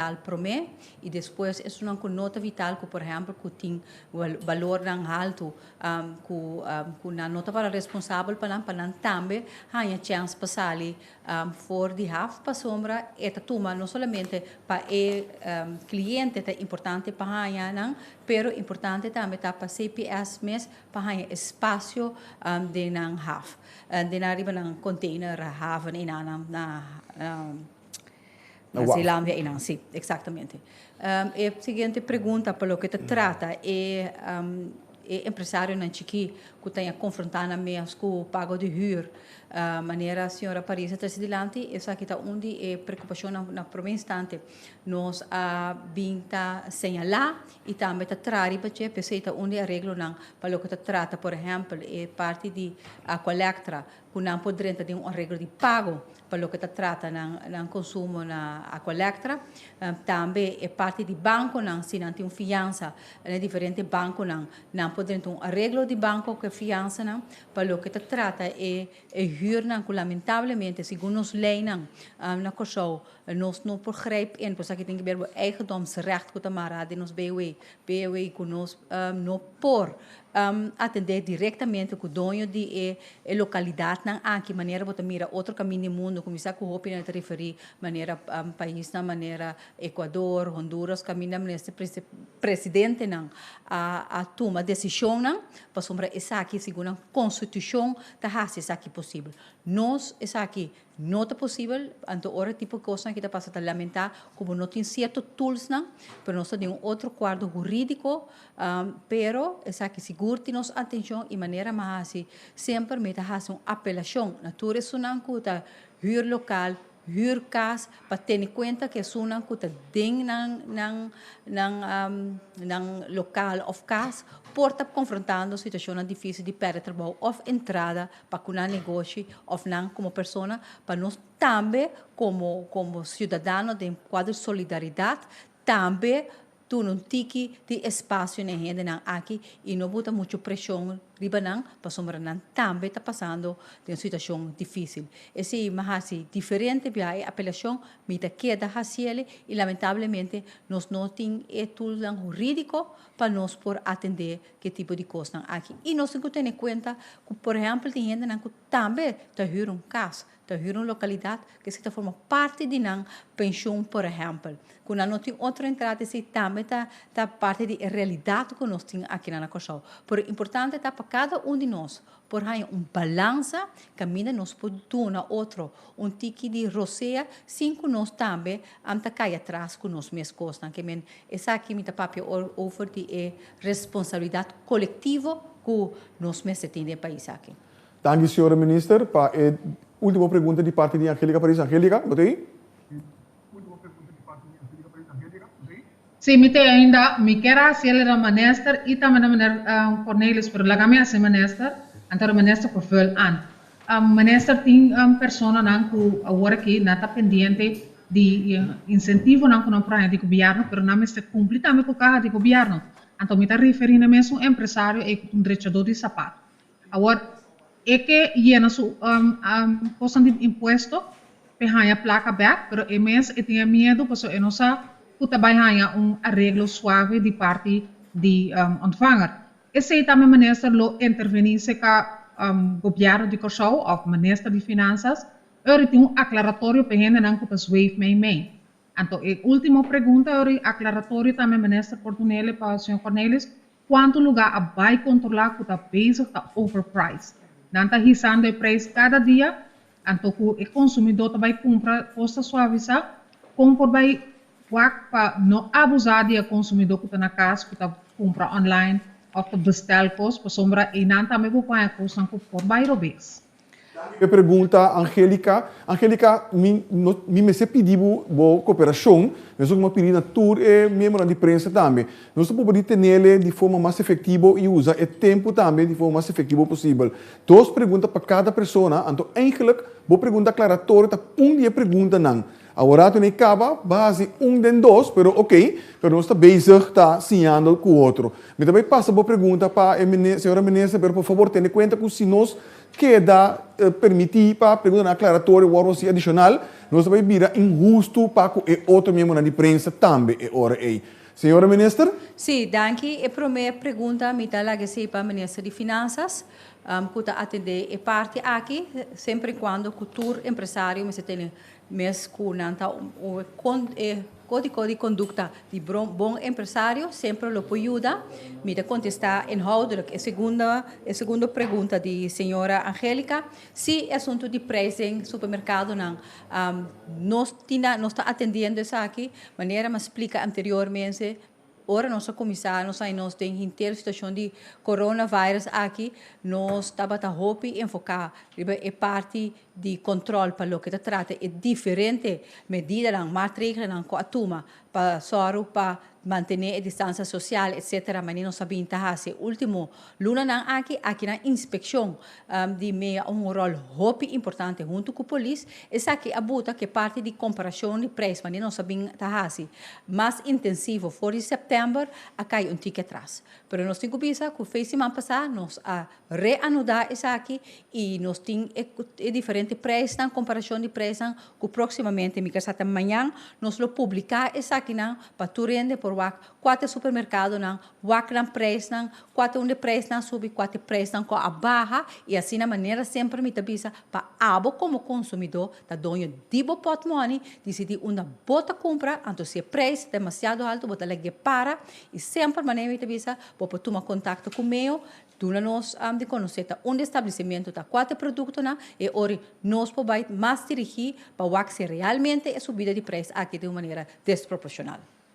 vital promé i despues esunnan ku no ta vital ku por ehèmpel ku tin balornan haltu ku nan no tabata responsabel pa nan pa nan tambe haña chèns pa sali for di haf pasobra e ta tuma no solamente pa e kliente ta importante pa haña nan pero importante tambe ta pa CPS mes pa haña e spasio den nan haf den nan riba nan konteiner haf i nan Na Zeelandia einan, sí, exactamente. E siguiente pregunta pa loke ta trata e empresarionan chikí ku ta a konfrontá nan mes ku pago di hür. Manera señora Paris a trese dilanti esaki ta un di e preokupashonnan na promé instante. Nos a bin ta señalá i tambe ta traha riba dje, p'esei ta un di e areglonan pa loke ta trata, por ehèmpel, e parti di kòlèktra. ku nan por drenta den un arreglo di pago pa loke ta trata nan konsumo na Aqualectra. Tambe e parti di bankonan, si nan tin un fiansa na e diferente bankonan, nan por drenta un arreglo di banko ku e fiansanan pa loke ta trata e hürnan ku lamentablemente segun nos leinan na Kòrsou nos no por greip in, por esaki tin ke ber bo eigendomsrecht ku ta mará den nos BW P'eawey ku nos no por atendé direktamente ku doño di e lokalidatnan aki, manera bo ta mira otro kaminda di mundu, kuminsá ku hopi nan e ta referí manera paisnan manera Ekuador, Honduras, kaminda mester presidentenan a tuma desishonnan pasobra esaki segun nan konstitushon ta hasi esaki posibel. Nos esaki No ta posibel, anto ora e tipo kosnan aki ta pasa ta lamentá ku bo no tin sierto tulsnan, pero nos ta den un otro kuardo hurídiko, pero esaki sigur tin nos atenshon i manera mi a hasi semper mi ta hasi un apelashon na tur esunnan ku ta hür lokal, hür kas pa tene kuenta ku esunnan ku ta den nan nan nan nan lokal òf kas por ta konfrontando situashonnan difísil di pèrdè trabou òf entrada pa ku nan negoshi òf nan komo persona, pa nos tambe komo komo siudadano den kuadro solidaridat tambe duna un tiki di espasio na e hendenan aki i no buta muchu preshon riba nan pasobra nan tambe ta pasando den un situashon difísil. Esei mi a hasi diferente bia e apelashon, mi ta keda hasi eli i lamentablemente nos no tin e tulnan hurídiko pa nos por atendé ke tipo di kosnan aki. I nos tin ku tene kuenta ku por ehèmpel tin hendenan ku tambe ta hür un kas, ta hür un lokalidat ku esei ta forma parti di nan penshon por ehèmpel. Ku nan no tin otro entrada esei tambe ta ta parti di e realidat ku nos tin akinan na Kòrsou. Pero importante ta pa kada un di nos por haña un balansa kaminda nos por duna otro un tiki di rosea sin ku nos tambe am ta kai atras ku nos mes kosnan. Ke men, esaki mi ta papia ora over di e responsabilidat kolektivo ku nos mester tin den e pais aki. Danki señora Minister pa e ultimo pregunta di parti di Angelica Paris. Angelica, bo ta ahi? Si mi te ainda, mi kier a hasi elida minister y tambe na meneer Cornelis pero laga mi hasi minister, anto di minister por vul ant. Minister tin personanan cu awor aki nan ta pendiente di incentivonan cu nan por haña di gobierno pero nan mester cumpli tambe cu caha di gobierno, anto mi ta referi na mesun empresario ey cu ta un drechador di sapato. Awor, e ke yena su kosnan di impuesto p'e haña plaka bèk, pero e mes e tin e miedu pasobra e no sa ku ta bai haña un areglo suave di parti di òntvanger. Esei ta mi minister lo intervení serka Gobièrnu di Kòrsou òf minister di Finansas ora e tin un aklaratorio p'e hendenan ku ta zweef meimei. Anto e último pregunta ora e aklaratorio ta mi minister Portunele pa señor Cornelis, Cuanto lugar a bay controla cu ta bezig ta overpriced. Nan ta hisando e prijs cada dia, anto cu e consumidor ta bay cumpra cos ta suaviza. Con por bay wak pa no abuza di e consumidor cu ta na cas cu ta cumpra online of ta bestel cos, pasobra eynan tambe por paña cosnan cu por bay robes. P'e pregunta Angelica, Angelica, mi no, mi mester pidi bo, bo cooperacion, mesun cu mi a pidi na tur e miembronan di prensa tambe. Nos ta proba di tenele di forma mas efectivo y usa e tempo tambe di forma mas efectivo posibel. Dos pregunta pa cada persona, anto eigenlijk bo pregunta aclaratorio ta un di e preguntanan. Awor ta n'e caba ba haci un den dos, pero ok, pero nos ta bezig ta siñando cu otro. Mi ta bay pasa bo pregunta pa e Señora Minister, pero por favor tene cuenta cu si nos keda permiti pa preguntanan aclaratorio wor haci adicional, nos ta bay bira inhusto pa cu e otro miembronan di prensa tambe e ora ey. Señora Minister. Sí, danki. E prome pregunta mi ta lag'e esey pa Minister di Finanzas, cu ta atende e parti aki, semper y cuando cu tur empresario mester tene. Mes cu nan ta e codico di conducta di bon empresario semper lo por yuda. Mi ta contesta inhoudelijk e segundo e segundo pregunta di señora Angelica. Si e asunto di prijs den supermercadonan nos tin a nos ta atendiendo esaki manera mi a splica anteriormente. Ora nos a kuminsá nos aña nos den henter situashon di coronavirus aki nos tabata hopi enfoká riba e parti di kòntròl pa loke ta trata e diferente medidanan, matregelnan ku a tuma pa sòru pa mantené e distansia sosial etsetera, maní nos a binta hasi e último Lunanan aki, akinan inspekshon di mea un ròl hopi importante huntu ku polis. Esaki a buta ku e parti di komparashon di preis wanneer nos a bin ta hasi mas intensivo for di sèptèmber a kai un tiki atras. Pero nos tin ku bisa ku fei siman pasá nos a reanudá esaki i nos tin e diferente preisnan, komparashon di preisnan ku próksimamente mi kasa ta mañan nos lo publiká esakinan pa tur hende por wak kua ta e supermerkadonan Wakran preisnan, kua ta un di preisnan subi, kua ta preisnan ku a baha i asina manera semper mi ta bisa pa abo komo konsumidó ta doño di bo pòtmòni disidí unda bo ta kumpra anto si e preis ta demasiado alto bo ta lek di e para i semper manera mi ta bisa bo por tuma kontakto ku meo duna nos di konosé ta unda e stablisimentu ta kua ta e produktonan e ora nos por bai mas dirigí pa wak si realmente e subida di preis aki ta un manera desproporshonal.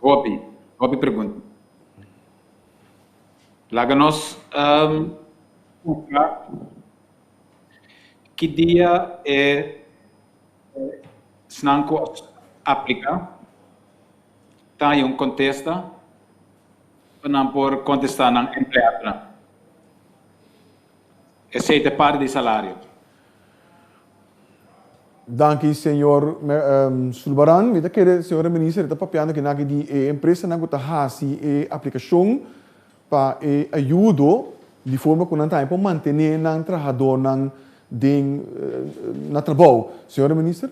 Hopi, hopi pregunta. Laga nos cuca ki dia e esnan cu aplica ta haya un contesta pa nan por contesta nan empleadonan. Esey ta parti di salario. Danki señor Zulbarán. Mi ta kere señora minister ta papia no kinak di e empresanan ku ta hasi e aplikashon pa e ayudo di forma ku nan tambe por mantené nan trahadónan den na trabou. Señora minister.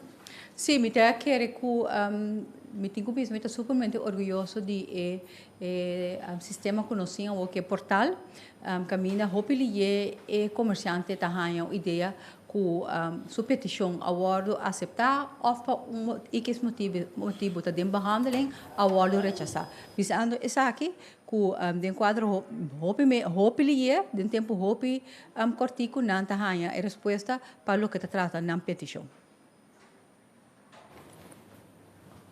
Sí, mi ta kere ku mi tin ku bisa mi ta supermente orguyoso di e E sistema ku nos tin awor ku e portal, kaminda hopi liyé e komersiante ta haña un idea ku su petishon a wòrdu aseptá òf pa un motibu ikis motibu ta den behandeling a wòrdu rechasá. Bisando esaki ku den kuadro hopi hopi liyé den tempu hopi kòrtiku nan ta haña e respuesta pa loke ta trata nan petishon.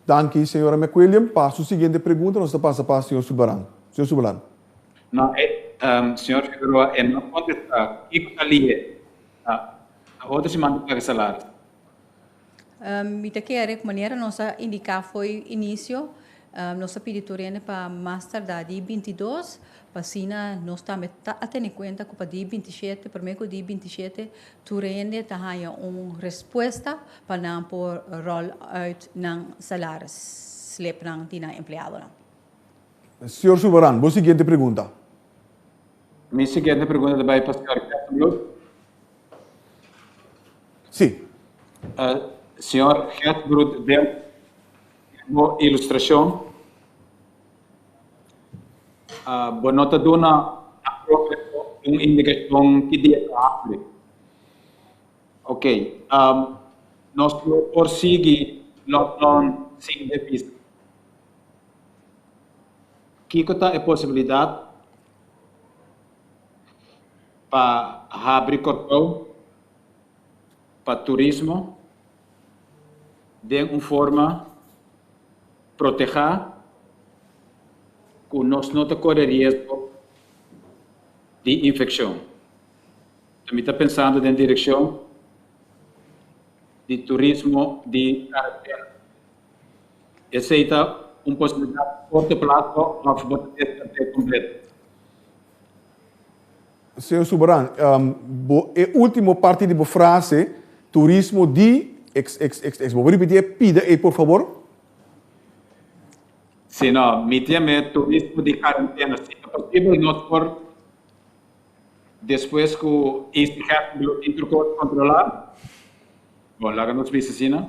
Danki, Señora McWilliam. Pa su siguiente pregunta nos ta pasa pa Señor Subaran. Señor Subaran. No, e, Señor Figueroa e no contesta. Kico ta li e? Ta otro siman ta paga salaris. Mi ta kere cu manera nos a indica fo'i inicio, Nos a pidi tur hende pa mas tardá di binti dos, pa asina nos tambe ta a tene kuenta ku pa di binti shete, promé ku di binti shete, tur hende ta haña un respuesta pa nan por roll uit nan salaris slipnan di nan empleadonan. Señor Suberan, Bo siguiente pregunta. Mi siguiente pregunta ta bai pa señor Gesbloed. Sí. Señor Gesbloed, den Bo ilustracion a bo no ta duna na propio esfo un indicacion ki dia ta hapri. Ok, nos lo por sigui log lon sin devisa. Kico ta e posibilidad pa habri Corcou pa turismo? den un forma protehá ku nos no ta kore riesgo di infekshon. Ta mi ta pensando den direkshon di turismo di karatera. Esei ta un posibilidat korto plaso òf bo ta deskart'é kompleto. Señor Suberan, bo e ultimo parti di bo frase, turismo di, eks, eks, eks, eks. Bo por ripiti e pida ei por fabor? Sí, no, mi tin me turismo di karantena. Si ta posibel nos por despues ku Easy Gef di los Intro Codes kontrolá, bon, laga nos bisa asina.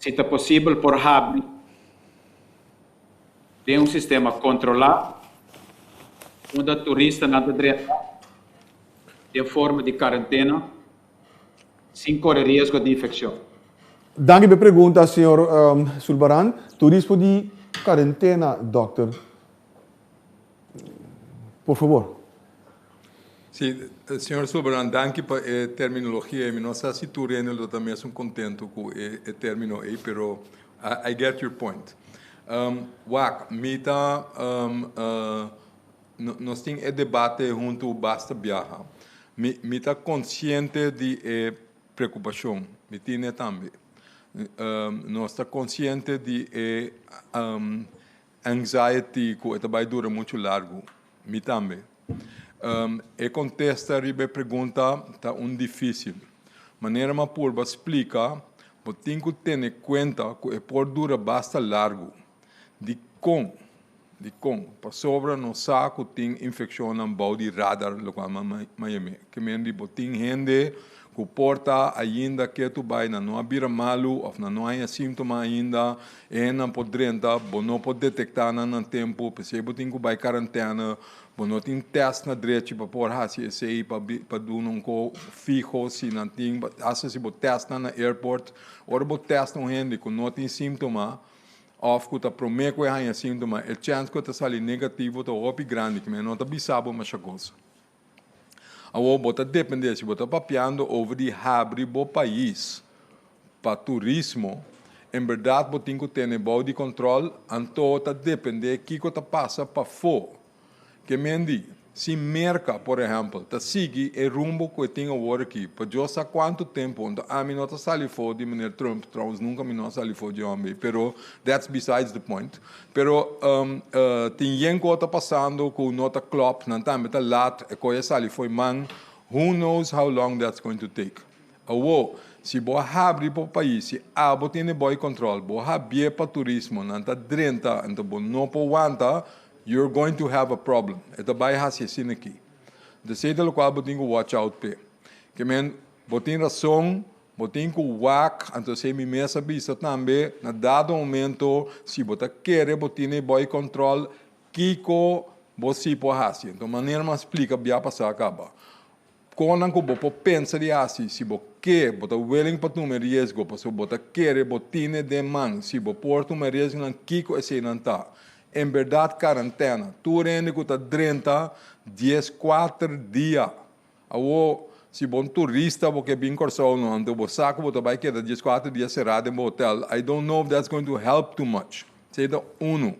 Si ta posibel por habri. den un sistema kontrolá unda turistanan ta drenta den forma di karentena sin kore riesgo di infekshon. Danki p'e pregunta, señor Zulbarán. Turismo di karentena, dokter. Por fabor. Si, Señor Soberan, danki pa e terminologia ei. Mi no sa si tur rende lo ta mesun contento cu e termino ei, pero I get your point. Wak, mi ta, nos tin e debate hunto basta biaha. Mi, mi ta consciente di e preocupacion, mi tine tambe. Nos ta consciente di e Anxiety ku e ta bai dura muchu largu. Mi tambe. E kontesta riba e pregunta ta un difisil. Manera m'a purba splika, bo tin ku tene kuenta ku e por dura basta largu. Dikon? Dikon? Pasobra nos sa ku tin infekshonnan bou di radar lokal na Miami. Ke men di bo tin hende Ku por ta ainda ketu bai nan no a bira malu òf nan no haña síntoma ainda. E hennan por drenta. Bo no por detektá nan na tempu. P'esei bo tin ku bai karantèna. Bo no tin tèst na drechi pa por hasi esei pa pa duna un kos fiho si nan tin. Asta si bo tèst nan na airport. Ora bo tèst un hende ku no tin síntoma òf ku ta promé ku e haña síntoma e chèns ku e ta sali negativo ta hopi grandi. Ke men no ta bisa bo masha kos. Awor bo ta depende si bo ta papiando over di habri bo pais pa turismo, en berdad bo tin cu tene bao di control, anto ta depende kico ta pasa pafo. Ke men di, si Merca, por ehempel, ta sigui e rumbo cu e tin awor aki pa Dios sa cuanto tempo, anto ami no ta sali fo di Meneer Trump, trouwens nunca mi no a sali fo dje hombre, pero that's besides the point. Pero tin yen cu a ta pasando cu no ta clop, nan tambe ta laat, e coy a sali foy man, who knows how long that's going to take. Awo, si bo a habri bo pais, si abo tin e boy control, bo habie pa turismo, nan ta drenta, anto bo no por wanta, you're going to have a problem. E ta bay haci asina aki. Entonces ey ta locual bo tin cu watch out pe. Ke men, bo tin razon. Bo tin cu wak, anto esey mi mes a bisa tambe, na dado momento si bo ta kere bo tin e body control, kico bo si por haci? Enton manera mi a splica bia pasa a caba. Conan cu bo por pensa di haci si bo ke, bo ta willing pa tuma e riesgo pasobra bo ta kere bo tin e den man, si bo por tuma e riesgonan kico eseynan ta? En berdad carantena, tur hende cu ta drenta dies, cuater dia Awor, si bo un turista, bo ke bin Kòrsou no anto bo sa ku bo ta bai keda dies kuater dia será den bo hotèl, I don't know if that's going to help too much. Esei ta unu.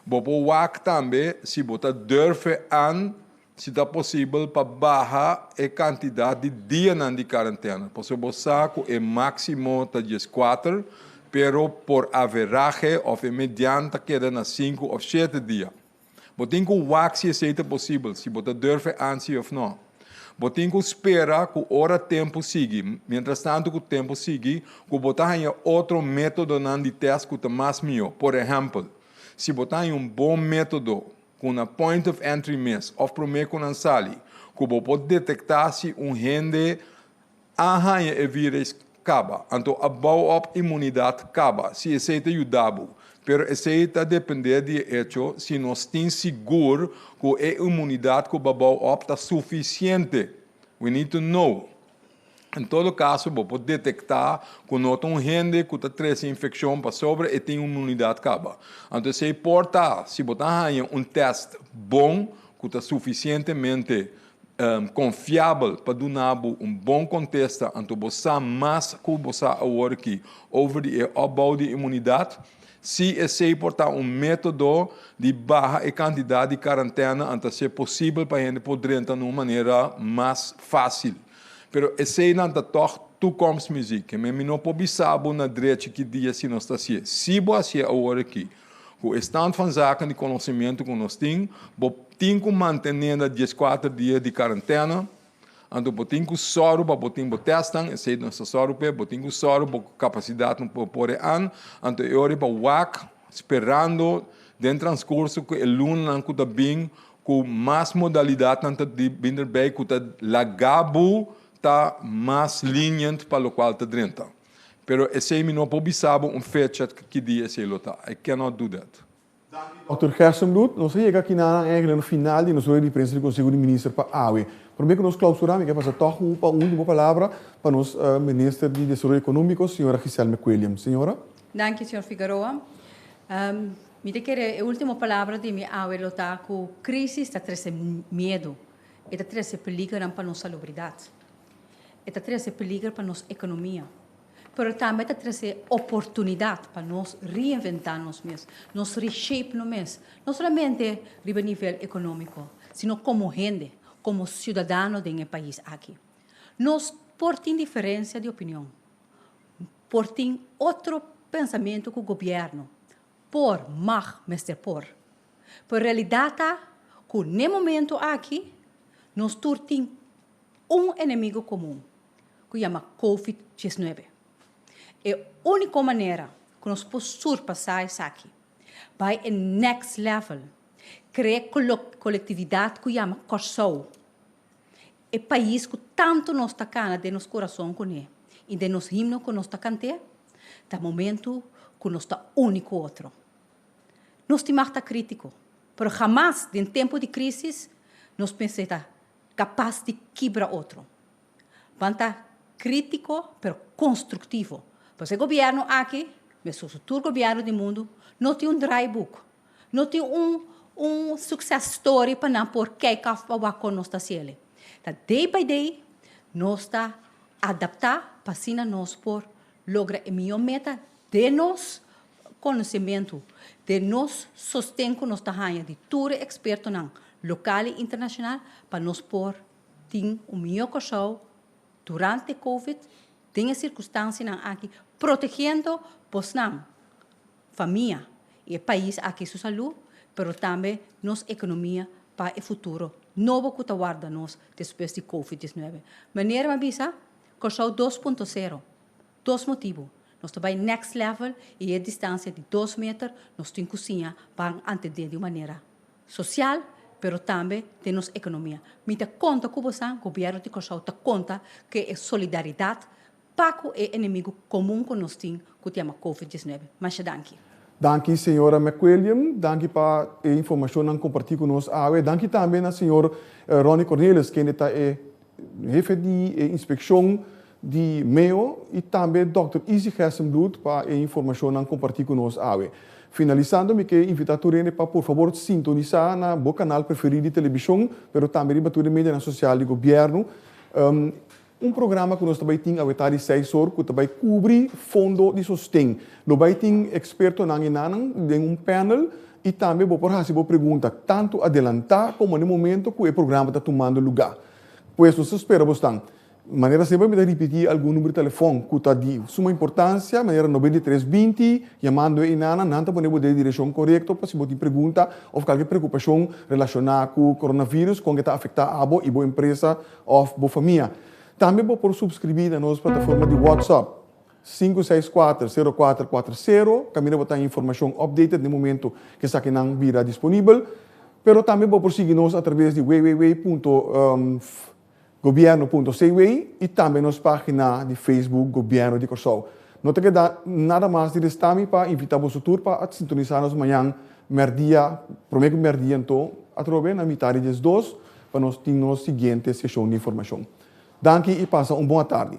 Bo por wak tambe si bo ta durfe an, si ta posibel, pa baha e kantidat di dianan di karantena, pasobra bo sa ku e máksimo ta dies kuater, pero por averahe òf e median ta keda na sinku òf shete dia. Bo tin ku wak si esei ta posibel, si bo ta durfe ansi òf nò. Bo tin ku spera ku ora tempu sigui, mientrastantu ku tempu sigui, ku bo ta haña otro métodonan di tèst ku ta mas mihó. Por ehèmpel, si bo ta haña un bon método ku na point of entry mes òf promé ku nan sali, ku bo por detektá si un hende, A haña e vires kaba, anto a bou op imunidat kaba si esei ta yuda bo. Pero esei ta dependé di e echo si nos tin sigur ku e imunidat ku bo a bou op ta sufisiente. We need to know. En todo kaso bo por detektá ku no ta un hende ku ta trese infekshon pasobra e tin imunidat kaba. Anto esei por ta si bo ta haña un tèst bon ku ta sufisientemente konfiabel pa duna bo un bon kontesta anto bo sa mas ku bo sa awor aki over di e opbou di imunidat. Si esei por ta un método di baha e kantidat di karantèna an ta ser posibel pa hende por drenta na un manera mas fásil. Pero esei nan ta tòg tukomsmuziek. Kemey mi no por bisa bo na drechi ki dia si nos ta hasié. Si bo hasié awor aki. Ku e stand van zaken di konosementu ku nos tin, bo tin ku mantené na dieskuater dia di karantèna. Anto bo tin ku sòru pa bo tin bo tèstnan, esei nos ta sòru p'e. Bo tin ku sòru bo kapasidat no por por e an. Anto e ora pa wak sperando den transkurso ku e lunanan ku ta bin ku mas modalidatnan ta bin derbei ku ta laga bo ta mas liniènt pa lokual ta drenta. Pero esei mi no por bisa bo un fecha ki dia esei lo ta. I cannot do that. Dokter Gersembloed, nos a yega akinan eigenlijk na e final di nos rueda di prensa di Konseho di Minister pa awe. Promé ku nos klausurá mi ke pasa tòg ku u pa un último palabra pa nos Minister di Desaroyo Ekonómiko, señora Gisèle McWilliams. Señora. Danki, señor Figueroa. Mi ta kere e último palabra di mi awe lo ta ku krísis ta trese miedu, e ta trese peligronan pa nos salubridat. E ta trese peliger pa nos ekonomia, pero tambe e ta trese oportunidat pa nos reinventá nos mes, nos reshape nos mes, no solamente riba e nivel ekonómiko, sino komo hende, komo siudadano den e pais aki. Nos por tin diferensia di opinion, por tin otro pensamentu ku gobièrnu, por, mag, mester por, pero e realidat ta ku n'e momentu aki nos tur tin un enemigo komun ku yama Covid diesnuebe. E úniko manera ku nos por surpasá esaki, bai e next level, krea e kolektividat ku yama Kòrsou, e pais ku tantu nos ta kana den nos kurason kuné i den nos himno ku nos ta kant'é, ta momentu ku nos ta uni ku otro. Nos tin mag ta krítiko, pero hamas den tempu di krísis nos mester ta. Kapas di kibra otro. Ban ta kritiko pero konstruktivo. Pasobra e gobièrnu aki, mester su tur gobièrnu di mundu, no tin un draaiboek. No tin un un suksès story pa nan por kèk af pa wak kon nos ta hasié alí. Ta day by day nos ta adaptá pa asina nos por. Logra e mihó meta den nos konosementu, den nos sosten ku nos ta haña di tur e ekspertonan lokal i internashonal pa nos por tin un mihó Kòrsou durante covid den e sirkunstansianan aki protegendo bosnan, famia i e pais aki su salú pero tambe nos ekonomia pa e futuro nobo ku ta warda nos despues di covid diesnuebe. Meneer, mi a bisa Kòrsou dos punto sero, Dos motibu, Nos ta bai next level i e distansia di dos meter nos tin ku siña ban antendé di un manera sosial pero tambe den nos ekonomia. Mi ta konta ku bosan, Gobièrnu di Kòrsou ta konta ku e solidaridat pa ku e enemigu komun ku nos tin ku ta yama Covid diesnuebe. Masha danki. Danki señora McWilliam, danki pa e informashonnan kompartí ku nos awe. Danki tambe na señor Ronnie Cornelis, kende ta e Hefe di e inspekshon di Mayo i tambe dòkter Izzy Gessenbloed pa e informashonnan kompartí ku nos awe. Finalisando mi ke invitá tur hende pa por fabor sintonisá na bo kanal preferí di telebishon, pero tambe riba tur e medianan sosial di gobièrnu, un programa ku nos ta bai tin awe ta di seis or ku ta bai kubri fondo di sosten. Lo bai tin ekspertonan i nannan den un pènel I tambe bo por hasi bo pregunta tantu adelantá komo na e momento ku e programa ta tumando lugá. Pues nos ta spera bo stan. Manera semper mi ta ripití algun number di telefòn ku ta di suma importansia, manera noventa i tres binti, yamando einan nan ta pone bo den e direkshon korekto pa si bo tin pregunta òf kalke preokupashon relashoná ku koronavirus kon ke ta afektá abo i bo empresa òf bo famia. Tambe bo por supskribí na nos plataforma di WhatsApp Sinku seis kuater, sero kuater kuater sero, kaminda bo ta informashon updated na e momentu ku esakinan bira disponibel. Pero tambe bo por sigui nos atraves di www punto Gobierno punto CW i tambe nos pagina di Facebook Gobierno di Kòrsou. No ta keda nada mas di resta mi pa invita boso tur pa a sintonisa nos mañan mèrdia, prome ku mèrdia anto atrobe na mita di dies dos pa nos tin nos siguiente seshon di informashon. Danki i pasa un bon atardi.